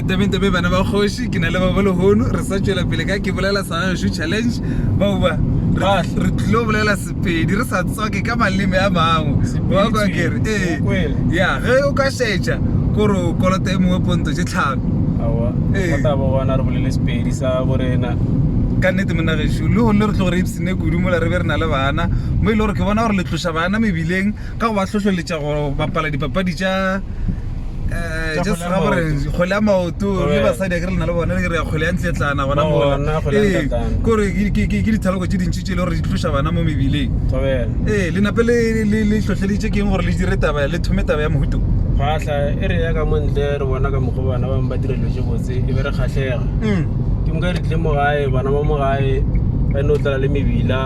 tabeng tabe bana ba kgoši ke na le babo lehono re sa tšwela pele ka ke bolela sa gagešu challenge baoba re tlilo bolela sepedi re sa tswake ka maleme a mangwekere ee ya ge o ka šetša kore o kolota e mongwe ponto tše tlhano ka nnete monagešu le gone re tlo gore ipsene kudu mola re be re na le bana mo e le gore ke bona gore le tloša bana mebileng ka go ba hlohleletša go bapala dipapadi tša kgwele ya maoto le basadi a ke re le na le bone re ya kgwele ya ntletlana gona mola ee kore ke dithaloko tše dintši tše e le gore di tloša bana mo mebileng ee le nape le hlohleleditše ke eng gore le dire taba le thome taba ya mohuto kgwatlha e re ya ka montle re bona ka mokgwa bana bangwe ba dira dilo tše botse e be re kgatlhega ke nka re tlile mo gae bana ba mo gae ba no tlala le mebila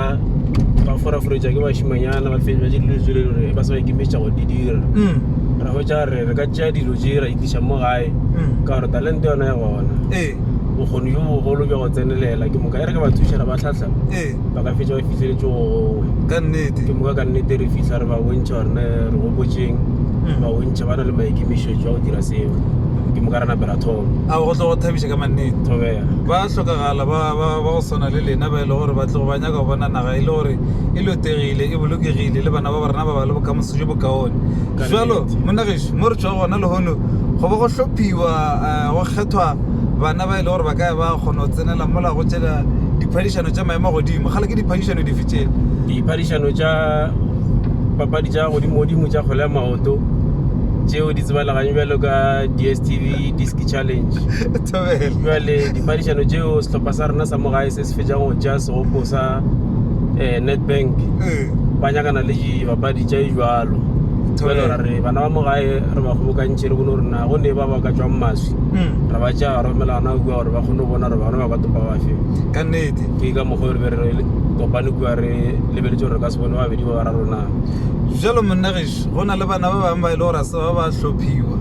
ba foraforetša ke bašimanyana ba fetša tše dilo tsele gore ba sa ba ikemetša go di dira mm. ra hwetša re re ka tšea dilo tše ra itliša mo gae mm. ka gore talente yona ya gona ee. bokgoni jo bogolo bja go tsenelela ke moka e re ke ba thušara ba tlhatlha ee. ba ka fetša ba fihleletse gongwe ka nnete ke moka ka nnete re fitlha re ba bontšha gorene re gopotšeng mm. ba bontšha ba na le maikemišetšo a go dira seo ke moka re napela thoma nnete ka mannete oh, yeah. ba hlokagala ba, ba, ba go swana le lena ba e le gore ba tlogo ba nyaka go bona naga e le gore e lotegile e bolokegile le bana ba ba rena ba ba le bokamoso jo bokaone jalo monageso mo re tswa gona lehono go ba go hlophiwa eh, go kgethwa bana ba e le gore ba ka ba kgona go tsenela mola go tšela diphadišano tša maemo godimo gale ke diphadišano dife tšele diphadišano tša papadi tša godimo godimo tša kgole ya maoto tšeo di tsebaleganye bjalo ka dstv disc challenge jale dipadišano tšeo sehlopha sa rena sa mo gae se se fetšang go tšea segopo sa um netbank eh. ba nyakana le dibapadi tša e jalo jale ra re bana ba mo gae re ba kgobokantšhe re bone gore na go ne ba ba ka tswang maswi hmm. ra ba tšea ra romela gona kua gore ba kgone go bona gore bana ba ka topa bafe ka nnete ke ka mokgwa re be re kopane kua re lebeletse gore re ka se bone babedi ba ba ra rona jalo monna But go na le bana ba bangwe ba e le gore a se ba ba hlophiwa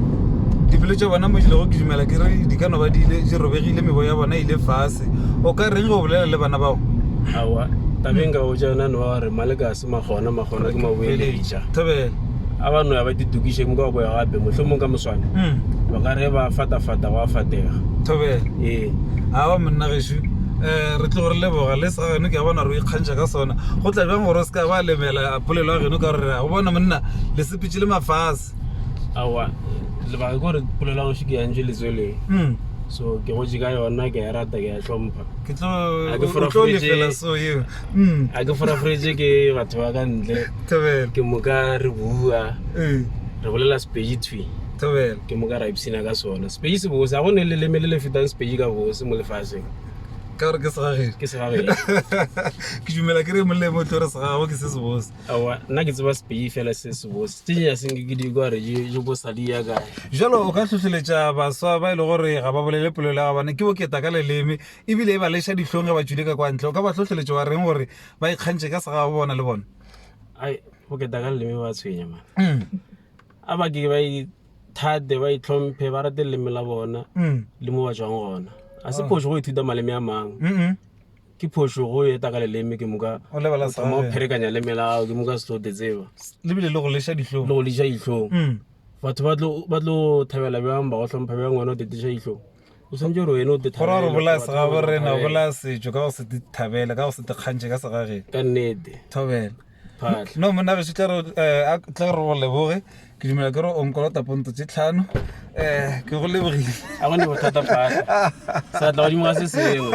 dipelo tša bona mo di lego ke dumela ke re di ka no ba di ile di robegile mebo ya bona e ile fase o ka reng go bolela le bana bao awa tabeng ka botša yona ne wa gore maleka a se magona magona ke maboeleja thobela a ba no ya ba ditokiše mo ka go ya gape mohlho mong ka moswane mm. ba ka re ba fatafata wa fatega thobela ee awa monna gešu um re tlo gore leboga le sa gane ke a bona re o ikgantšha ka sona go tla bjang gore o se ka ba lemela polelo ya geno ka gore go bona monna le sepitše le mafase awa lebaka ke gore polelo ya goši ke yantše letsweleng mm. so ke gotse ka yona ke a e rata ke a e hlompha ke tlo A ke o tlo forafetše. lefela so eo mm. a ke forafretse ke batho ba ka ntle thobela ke moka re bua ee re bolela sepedi thwi thobela ke moka ra ipshina ka sona sepedi se bose ga go ne leleme le le fetang sepedi ka bose mo lefaseng ka gore ke segagedi ke segagedi ke dumela ke re molemo tlo re segago ke se sebose awa nna ke tseba sepei fela se sebose tse ya seng ke di kwa re je je bo sa di ya ka jalo o ka tlhotlheletsa baswa ba ile e gore ga ba bolele polelo ya bana ke boketa ka leleme e bile e ba lesha ditlhong ge ba tšwile ka kwa ntle o ka ba tlhotlheletsa wa reng gore ba ikgantše ka segago bona le bona ai boketa ka leleme ba tshwenya man mm. a ba ke ba thate ba itlhomphe ba rate leleme la bona mm. le mo ba tswang gona a se oh. phoso go ithuta maleme a mangwe ke phoso go eta ka leleme ke moka thoma go pherekanya leme la gago ke moka setlote tseba lebile le go leša ditlhong le go leša ditlhong mm. batho ba tlo thabela bjang ba go tlhompha bjang wena o tetiša ditlhong o santse gore wena o te go ra gore bolaya segabo re na bolaya setšo ka go se te thabele ka go se te kgantšhe ka segageng ka nnete thobela no monna gešo tla re go leboge ke dumela ke re o nkolota ponto tse tlhano um ke go lebogile a gone bothata phaa sa tla godimo ga se sengwe